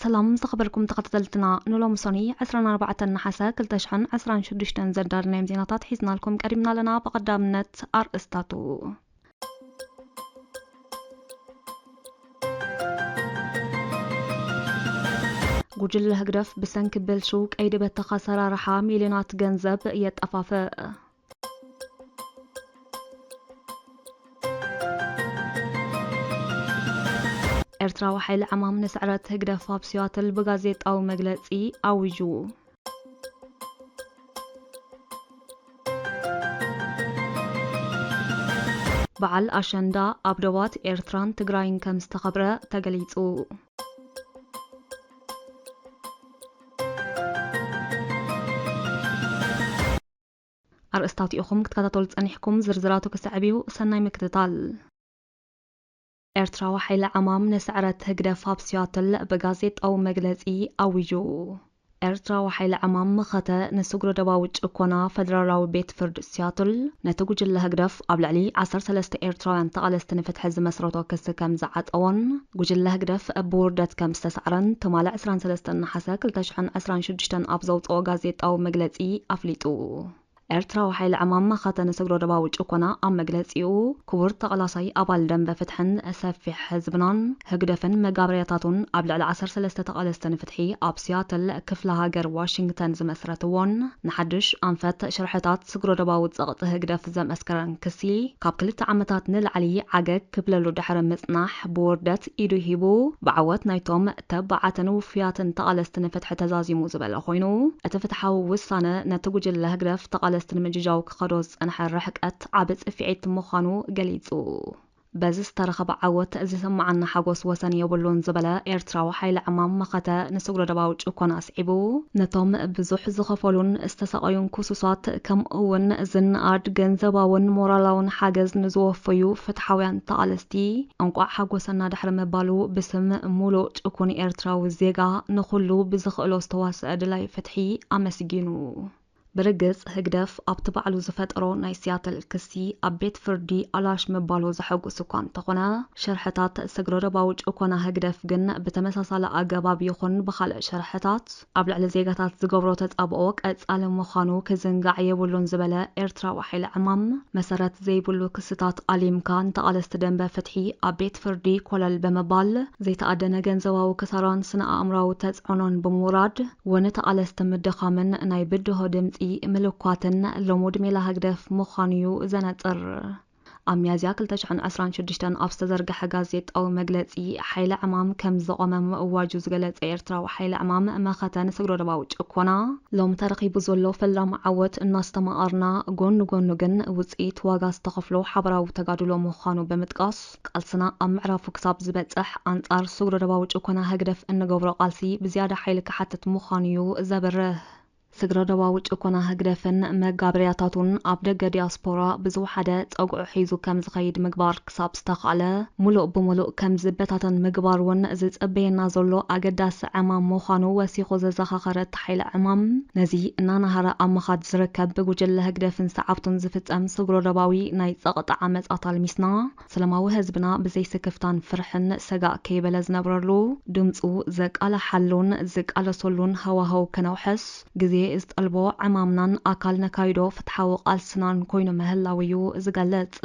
ሰላም ዝኸበርኩም ተኸታተልትና ንሎሚ ሶኑይ ዕስራን ኣርባዕተን ነሓሰ ክልተ ሽሕን ዕስራን ሽዱሽተን ዘዳለናዮም ዜናታት ሒዝናልኩም ቀሪብና ኣለና ብቐዳምነት ኣርእስታቱ ጉጅለ ህግደፍ ብሰንኪ ብልሹው ቀይዲ በተኽ ኣሰራርሓ ሚልዮናት ገንዘብ የጠፋፍእ። ኤርትራዊ ሓይሊ ዕማም ንስዕረት ህግደፍ ኣብ ሲያትል ብጋዜጣዊ መግለጺ ኣዊጁ። በዓል ኣሸንዳ ኣብ ዶባት ኤርትራን ትግራይን ከም ዝተኸብረ ተገሊጹ። ኣርእስታቱ ኢኹም ክትከታተሉ ጸኒሕኩም፣ ዝርዝራቱ ክስዕብ እዩ፣ ሰናይ ምክትታል። ኤርትራዊ ሓይሊ ዕማም ንስዕረት ህግደፍ ኣብ ሲያትል ብጋዜጣዊ መግለጺ ኣዊጁ። ኤርትራዊ ሓይሊ ዕማም መኸተ ንስግረ-ዶባዊ ጭኮና ፈደራላዊ ቤት ፍርድ ሲያትል ነቲ ጉጅለ ህግደፍ፣ ኣብ ልዕሊ ዓሰርተ ሰለስተ ኤርትራውያን ተቓለስቲ ንፍትሒ ዝመስረቶ ክሲ ከም ዝዓጸዎን ጉጅለ ህግደፍ ብውርደት ከም ዝተሳዕረን ትማሊ ዕስራን ሰለስተን ነሓሰ ክልተ ሽሕን ዕስራን ሽዱሽተን ኣብ ዘውጽኦ ጋዜጣዊ መግለጺ ኣፍሊጡ። ኤርትራዊ ሓይሊ ዕማም መኸተ ንስግረ ዶባዊ ጭኮና ኣብ መግለጺኡ፣ ክቡር ተቓላሳይ ኣባል ደምበ ፍትሕን ሰፊሕ ህዝብናን፣ ህግደፍን መጋበርያታቱን ኣብ ልዕሊ ዓሰርተ ሰለስተ ተቓለስቲ ንፍትሒ ኣብ ሲያትል ክፍለ ሃገር ዋሽንግተን ዝመስረትዎን ንሓድሽ ኣንፈት ሽርሕታት ስግረዶባዊ ጸቕጢ ህግደፍ ዘምስከረን ክሲ፣ ካብ ክልተ ዓመታት ንላዕሊ ዓገግ ክብለሉ ድሕሪ ምጽናሕ፣ ብውርደት ኢዱ ሂቡ፣ ብዓወት ናይቶም ተባዓትን ውፉያትን ተቓለስቲ ንፍትሒ ተዛዚሙ ዝበለ ኮይኑ፣ እቲ ፍትሓዊ ውሳነ ነቲ ጉጅለ ህግደፍ ተቓለስቲ ንምጅጃው ክኸዶ ዝጸንሐ ርሕቀት ዓቢ ጽፊዒት ምዃኑ ገሊጹ። በዚ ዝተረኸበ ዓወት ዝስመዓና ሓጎስ ወሰን የብሉን ዝበለ ኤርትራዊ ሓይሊ ዕማም መኸተ ንስግረዶባዊ ጭኮና ኣስዒቡ ነቶም ብዙሕ ዝኸፈሉን ዝተሳቐዩን ክሱሳት ከምኡ ውን ዝነኣድ ገንዘባውን ሞራላውን ሓገዝ ንዝወፈዩ ፍትሓውያን ተቓለስቲ እንቋዕ ሓጎሰና ድሕሪ ምባሉ ብስም ሙሉእ ጭኩን ኤርትራዊ ዜጋ ንኹሉ ብዝኽእሎ ዝተዋሰኣ ደላይ ፍትሒ ኣመስጊኑ። ብርግጽ ህግደፍ ኣብቲ ባዕሉ ዝፈጠሮ ናይ ሲያትል ክሲ ኣብ ቤት ፍርዲ ኣላሽ ምባሉ ዘሐጉስ እኳ እንተኾነ፣ ሸርሕታት ስግረዶባዊ ጭኮና ህግደፍ ግን ብተመሳሳሊ ኣገባብ ይኹን ብኻልእ ሸርሕታት ኣብ ልዕሊ ዜጋታት ዝገብሮ ተጻብኦ ቀጻሊ ምዃኑ ክዝንጋዕ የብሉን ዝበለ ኤርትራዊ ሓይሊ ዕማም፣ መሰረት ዘይብሉ ክስታት ኣሊምካ ንተቓለስቲ ደምበ ፍትሒ ኣብ ቤት ፍርዲ ኮለል ብምባል ዘይተኣደነ ገንዘባዊ ክሳራን ስነ-ኣእምሮኣዊ ተጽዕኖን ብምውራድ ውን ተቓለስቲ ምድኻምን ናይ ብድሆ ድምጺ ምልኳትን ልሙድ ሜላ ህግደፍ ምዃኑ ዩ ዘነጽር። ኣብ ሚያዝያ ክልተ ሽሕን ዕስራን ሽዱሽተን ኣብ ዝተዘርገሐ ጋዜጣዊ መግለጺ ሓይሊ ዕማም ከም ዝቖመ ምእዋጁ ዝገለጸ ኤርትራዊ ሓይሊ ዕማም መኸተ ንስግረዶባዊ ጭኮና፣ ሎሚ ተረኺቡ ዘሎ ፈላሚ ዓወት እናስተማቐርና ጎኒ ጎኑ ግን ውጽኢት ዋጋ ዝተኸፍሎ ሓበራዊ ተጋድሎ ምዃኑ ብምጥቃስ፣ ቃልስና ኣብ ምዕራፉ ክሳብ ዝበጽሕ፣ ኣንጻር ስግረ-ዶባዊ ጭኮና ህግደፍ እንገብሮ ቃልሲ ብዝያዳ ሓይሊ ክሓትት ምዃኑ'ዩ ዘብርህ። ስግረ-ዶባዊ ጭኮና ህግደፍን መጋበርያታቱን ኣብ ደገ ዲያስፖራ ብዝወሓደ ጸግዑ ሒዙ ከም ዝኸይድ ምግባር ክሳብ ዝተኻእለ፣ ምሉእ ብምሉእ ከም ዝበታተን ምግባር'ውን ዝጽበየና ዘሎ ኣገዳሲ ዕማም ምዃኑ ወሲኹ ዘዘኻኸረ ሓይለ ዕማም፣ ነዚ እናነሃረ ኣብ ምኻድ ዝርከብ ብጉጅለ ህግደፍን ሰዓብቱን ዝፍጸም ስግረዶባዊ ናይ ጸቕጢ ዓመጻት ኣልሚስና፣ ሰለማዊ ህዝብና ብዘይ ስክፍታን ፍርሕን ሰጋእ ከይበለ ዝነብረሉ፣ ድምጹ ዘቃልሓሉን ዝቃለሰሉን ሃዋህው ከነውሕስ፣ ግዜ ዝጠልቦ ዕማምናን ኣካል ነካይዶ ፍትሓዊ ቃልስናን ኮይኑ ምህላዉ'ዩ ዝገልጽ።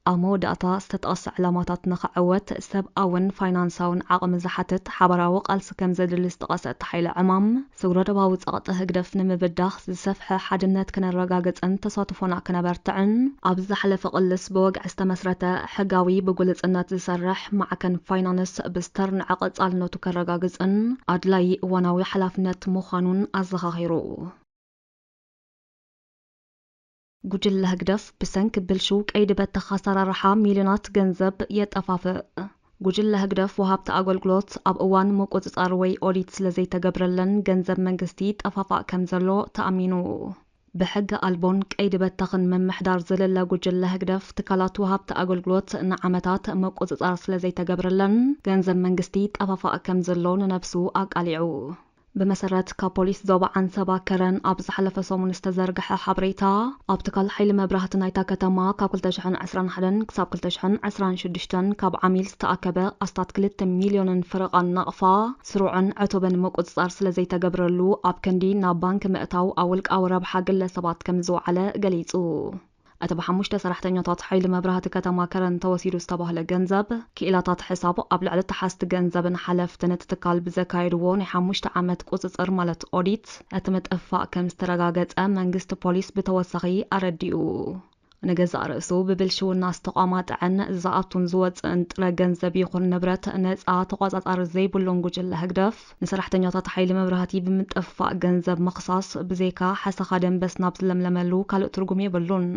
ኣብ መወዳእታ፣ ዝተጠቕሰ ዕላማታት ንኽዕወት፣ ሰብኣውን ፋይናንሳውን ዓቕሚ ዝሓትት ሓባራዊ ቃልሲ ከም ዘድሊ ዝጠቐሰ እቲ ሓይሊ ዕማም፣ ስግረዶባዊ ጸቕጢ ህግደፍ ንምብዳህ ዝሰፍሐ ሓድነት ክነረጋግጽን ተሳትፎና ክነበርትዕን፣ ኣብ ዝሓለፈ ቅልስ ብወግዒ ዝተመስረተ፣ ሕጋዊ፣ ብግሉጽነት ዝሰርሕ ማዕከን ፋይናንስ ብዝተርንዐ ቀጻልነቱ ከረጋግጽን ኣድላዪ እዋናዊ ሓላፍነት ምዃኑን ኣዘኻኺሩ። ጉጅለ ህግደፍ ብሰንኪ ብልሽው ቀይዲ በተኽ ኣሰራርሓ ሚልዮናት ገንዘብ የጠፋፍእ። ጉጅለ ህግደፍ ወሃብቲ ኣገልግሎት ኣብ እዋን ምቁጽጻር ወይ ኦዲት ስለዘይተገብረለን ገንዘብ መንግስቲ ይጠፋፋእ ከምዘሎ ተኣሚኑ ብሕገ ኣልቦን ቀይዲ በተኽን ምምሕዳር ዝልለ ጉጅለ ህግደፍ ትካላት ወሃብቲ ኣገልግሎት ንዓመታት ምቁጽጻር ስለዘይተገብረለን ገንዘብ መንግስቲ ይጠፋፋእ ከምዘሎ ንነብሱ ኣቃሊዑ ብመሰረት ካብ ፖሊስ ዞባ ዓንሰባ ከረን ኣብ ዝሓለፈ ሰሙን ዝተዘርግሐ ሓበሬታ፣ ኣብ ትካል ሓይሊ መብራህቲ ናይታ ከተማ ካብ ክልተ ሽሕን ዕስራን ሓደን ክሳብ ክልተ ሽሕን ዕስራን ሽዱሽተን ካብ ዓሚል ዝተኣከበ ኣስታት ክልተ ሚልዮንን ፍረቓን ናቕፋ ስሩዕን ዕቱብን ምቁጽጻር ስለዘይተገብረሉ ኣብ ክንዲ ናብ ባንኪ ምእታው ኣብ ውልቃዊ ረብሓ ግለሰባት ከምዝወዓለ ገሊጹ። እቲ ብሓሙሽተ ሰራሕተኛታት ሓይሊ መብራህቲ ከተማ ከረን ተወሲዱ ዝተባህለ ገንዘብ፣ ክኢላታት ሕሳብ ኣብ ልዕሊ ተሓዝቲ ገንዘብን ሓለፍትን እቲ ትካል ብዘካየድዎ ናይ ሓሙሽተ ዓመት ቁጽጽር ማለት ኦዲት እቲ ምጥፍፋእ ከም ዝተረጋገጸ መንግስቲ ፖሊስ ብተወሳኺ ኣረዲኡ። ንገዛእ ርእሱ ብብልሽውና ዝተቋማጠዐን ዝኣቱን ዝወጽእን ጥረ ገንዘብ ይኹን ንብረት ነጻ ተቖጻጻሪ ዘይብሉን ጉጅለ ህግደፍ፣ ንሰራሕተኛታት ሓይሊ መብራህቲ ብምጥፍፋእ ገንዘብ ምኽሳስ ብዘይካ ሓሰኻ ደምበስ ናብ ዝለምለመሉ ካልእ ትርጉም የብሉን።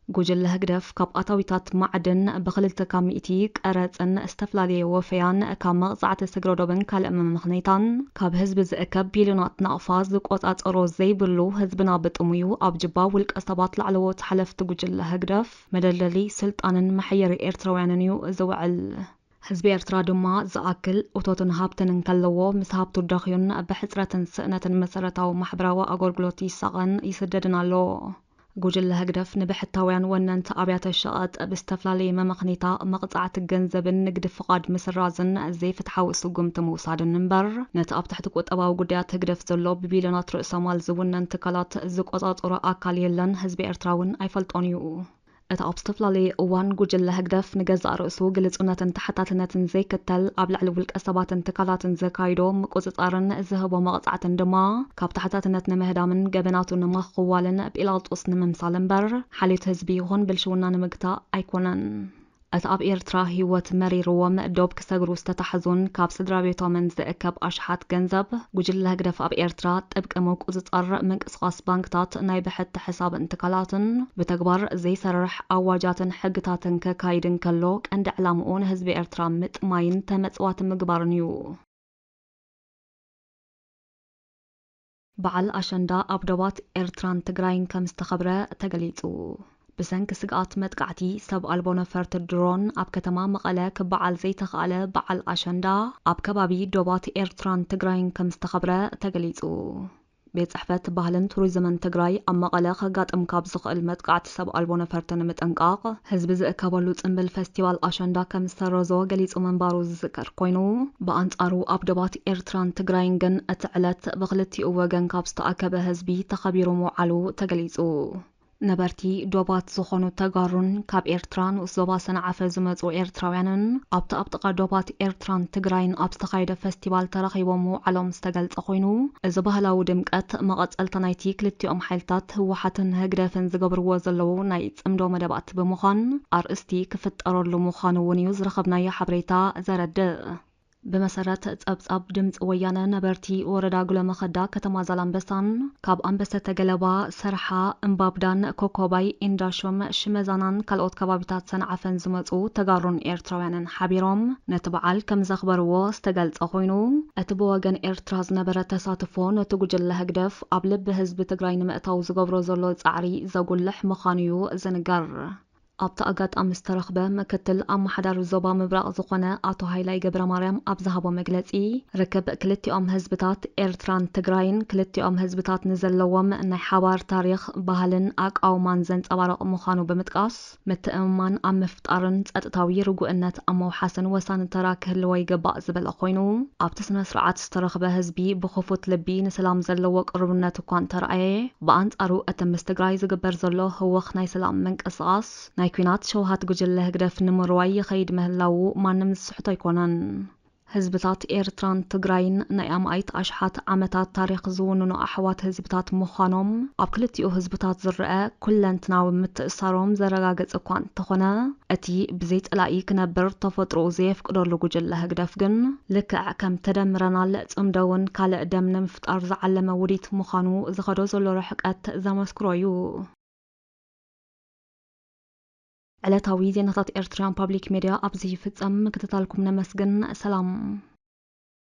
ጉጅለ ህግደፍ ካብ ኣታዊታት ማዕድን ብክልተ ካብ ሚእቲ፣ ቀረጽን ዝተፈላለየ ወፈያን፣ ካብ መቕጻዕቲ ስግረዶብን ካልእ መመኽነይታን ካብ ህዝቢ ዝእከብ ቢልዮናት ናቕፋ ዝቆጻጸሮ ዘይብሉ ህዝብና ብጥሙዩ ኣብ ጅባ ውልቀ ሰባት ላዕለዎት ሓለፍቲ ጉጅለ ህግደፍ መደልደሊ ስልጣንን መሐየሪ ኤርትራውያንንዩ ዝውዕል። ህዝቢ ኤርትራ ድማ ዝኣክል እቶትን ሃብትን እንከለዎ፣ ምስ ሃብቱ ደኽዩን ብሕጽረትን ስእነትን መሰረታዊ ማሕበራዊ ኣጎልግሎት ይሳቐን ይስደድን ኣሎ። ጉጅለ ህግደፍ ንብሕታውያን ወነንቲ ኣብያተ ሸቐጥ ብዝተፍላለየ መመኽኒታ መቕጻዕቲ ገንዘብን ንግዲ ፍቓድ ምስራዝን ዘይፍትሓዊ ስጉምቲ ምውሳድን እምበር ነቲ ኣብ ትሕቲ ቁጠባዊ ጉዳያት ህግደፍ ዘሎ ብቢልዮናት ርእሰማል ዝውነን ትካላት ዝቆጻጸሮ ኣካል የለን ህዝቢ ኤርትራውን ኣይፈልጦን እዩ። እቲ ኣብ ዝተፈላለየ እዋን ጉጅለ ህግደፍ ንገዛእ ርእሱ ግልጹነትን ተሓታትነትን ዘይክተል ኣብ ልዕሊ ውልቀሰባትን ትካላትን ዘካይዶ ምቁጽጻርን ዝህቦ መቕጻዕትን ድማ ካብ ተሓታትነት ንምህዳምን ገበናቱ ንምኽዋልን ጲላጦስ ንምምሳል እምበር ሓልዮት ህዝቢ ይኹን ብልሽውና ንምግታእ ኣይኮነን። እቲ ኣብ ኤርትራ ህይወት መሪርዎም ዶብ ክሰግሩ ዝተታሕዙን ካብ ስድራቤቶምን ዝእከብ ኣሽሓት ገንዘብ፣ ጉጅለ ህግደፍ ኣብ ኤርትራ ጥብቂ ምቁጽጻር ምንቅስቓስ ባንክታት፣ ናይ ብሕቲ ሕሳብን ትካላትን፣ ብተግባር ዘይሰርሕ ኣዋጃትን ሕግታትን ከካይድ እንከሎ፣ ቀንዲ ዕላምኡ ንህዝቢ ኤርትራ ምጥማይን ተመጽዋቲ ምግባርን እዩ። በዓል ኣሸንዳ ኣብ ዶባት ኤርትራን ትግራይን ከም ዝተኸብረ ተገሊጹ። ብሰንኪ ስግኣት መጥቃዕቲ ሰብ ኣልቦ ነፈርቲ ድሮን ኣብ ከተማ መቐለ ክበዓል ዘይተኽኣለ በዓል ኣሸንዳ ኣብ ከባቢ ዶባት ኤርትራን ትግራይን ከም ዝተኸብረ ተገሊጹ። ቤት ጽሕፈት ባህልን ቱሪዝምን ትግራይ ኣብ መቐለ ከጋጥም ካብ ዝኽእል መጥቃዕቲ ሰብ ኣልቦ ነፈርቲ ንምጥንቃቕ ህዝቢ ዝእከበሉ ጽምብል ፈስቲቫል ኣሸንዳ ከም ዝሰረዞ ገሊጹ ምንባሩ ዝዝከር ኮይኑ፣ ብኣንጻሩ ኣብ ዶባት ኤርትራን ትግራይን ግን እቲ ዕለት ብኽልቲኡ ወገን ካብ ዝተኣከበ ህዝቢ ተኸቢሩ ምውዓሉ ተገሊጹ። ነበርቲ ዶባት ዝኾኑ ተጋሩን ካብ ኤርትራ ንኡስ ዞባ ሰንዓፈ ዝመጹ ኤርትራውያንን ኣብቲ ኣብ ጥቓ ዶባት ኤርትራን ትግራይን ኣብ ዝተኻየደ ፈስቲቫል ተራኺቦም ምውዓሎም ዝተገልጸ ኮይኑ፣ እዚ ባህላዊ ድምቀት መቐጸልታ ናይቲ ክልቲኦም ሓይልታት ህወሓትን ህግደፍን ዝገብርዎ ዘለዉ ናይ ጽምዶ መደባት ብምዃን ኣርእስቲ ክፍጠረሉ ምዃኑ'ውን እዩ ዝረኸብናዮ ሓበሬታ ዘረድእ። ብመሰረት ጸብጻብ ድምጺ ወያነ ነበርቲ ወረዳ ጉለመኸዳ ከተማ ዛላምበሳን ካብ ኣንበሰተ ገለባ፣ ሰርሓ፣ እምባብዳን፣ ኮኮባይ፣ ኢንዳሾም፣ ሽመዛናን ካልኦት ከባቢታት ሰንዓፈን ዝመጹ ተጋሩን ኤርትራውያንን ሓቢሮም ነቲ በዓል ከምዘኽበርዎ ዝተገልጸ ኮይኑ እቲ ብወገን ኤርትራ ዝነበረ ተሳትፎ ነቲ ጉጅለ ህግደፍ ኣብ ልቢ ህዝቢ ትግራይ ንምእታው ዝገብሮ ዘሎ ጻዕሪ ዘጉልሕ ምኻኑዩ ዝንገር። ኣብቲ ኣጋጣሚ ዝተረኽበ ምክትል ኣማሓዳሪ ዞባ ምብራቕ ዝኾነ ኣቶ ሃይላይ ገብረማርያም ኣብ ዝሃቦ መግለፂ፣ ርክብ ክልቲኦም ህዝብታት ኤርትራን ትግራይን ክልቲኦም ህዝብታት ንዘለዎም ናይ ሓባር ታሪኽ፣ ባህልን ኣቃውማን ዘንፀባርቕ ምዃኑ ብምጥቃስ፣ ምትእምማን ኣብ ምፍጣርን ፀጥታዊ ርጉእነት ኣብ ምውሓስን ወሳኒ ተራ ክህልዎ ይግባእ ዝበለ ኮይኑ፣ ኣብቲ ስነ-ስርዓት። ዝተረኽበ ህዝቢ ብኽፉት ልቢ ንሰላም ዘለዎ ቅሩብነት እኳ እንተርኣየ፣ ብኣንጻሩ እቲ ምስ ትግራይ ዝግበር ዘሎ ህወኽ ናይ ሰላም ምንቅስቓስ፣ ናይ ኲናት ሸውሃት ጉጅለ ህግደፍ ንምርዋይ ይኸይድ ምህላዉ ማንም ዝስሕቶ ኣይኮነን። ህዝብታት ኤርትራን ትግራይን ናይ ኣማኢት ኣሽሓት ዓመታት ታሪኽ ዝውንኑ ኣሕዋት ህዝብታት ምዃኖም ኣብ ክልቲኡ ህዝብታት ዝረኣ፣ ኩለንትናዊ ምትእስሳሮም ዘረጋገጸ እኳ እንተኾነ፣ እቲ ብዘይ ጸላኢ ክነብር ተፈጥሮኡ ዘየፍቅደሉ ጉጅለ ህግደፍ ግን፣ ልክዕ ከም ተደምረናል ጽምዶ'ውን ካልእ ደም ንምፍጣር ዝዓለመ ውዲት ምዃኑ ዝኸዶ ዘሎ ርሕቀት ዘመስክሮ'ዩ። ዕለታዊ ዜናታት ኤርትርያን ፓብሊክ ሜድያ ኣብዚ ይፍጸም ምክትታልኩም ነመስግን ሰላም።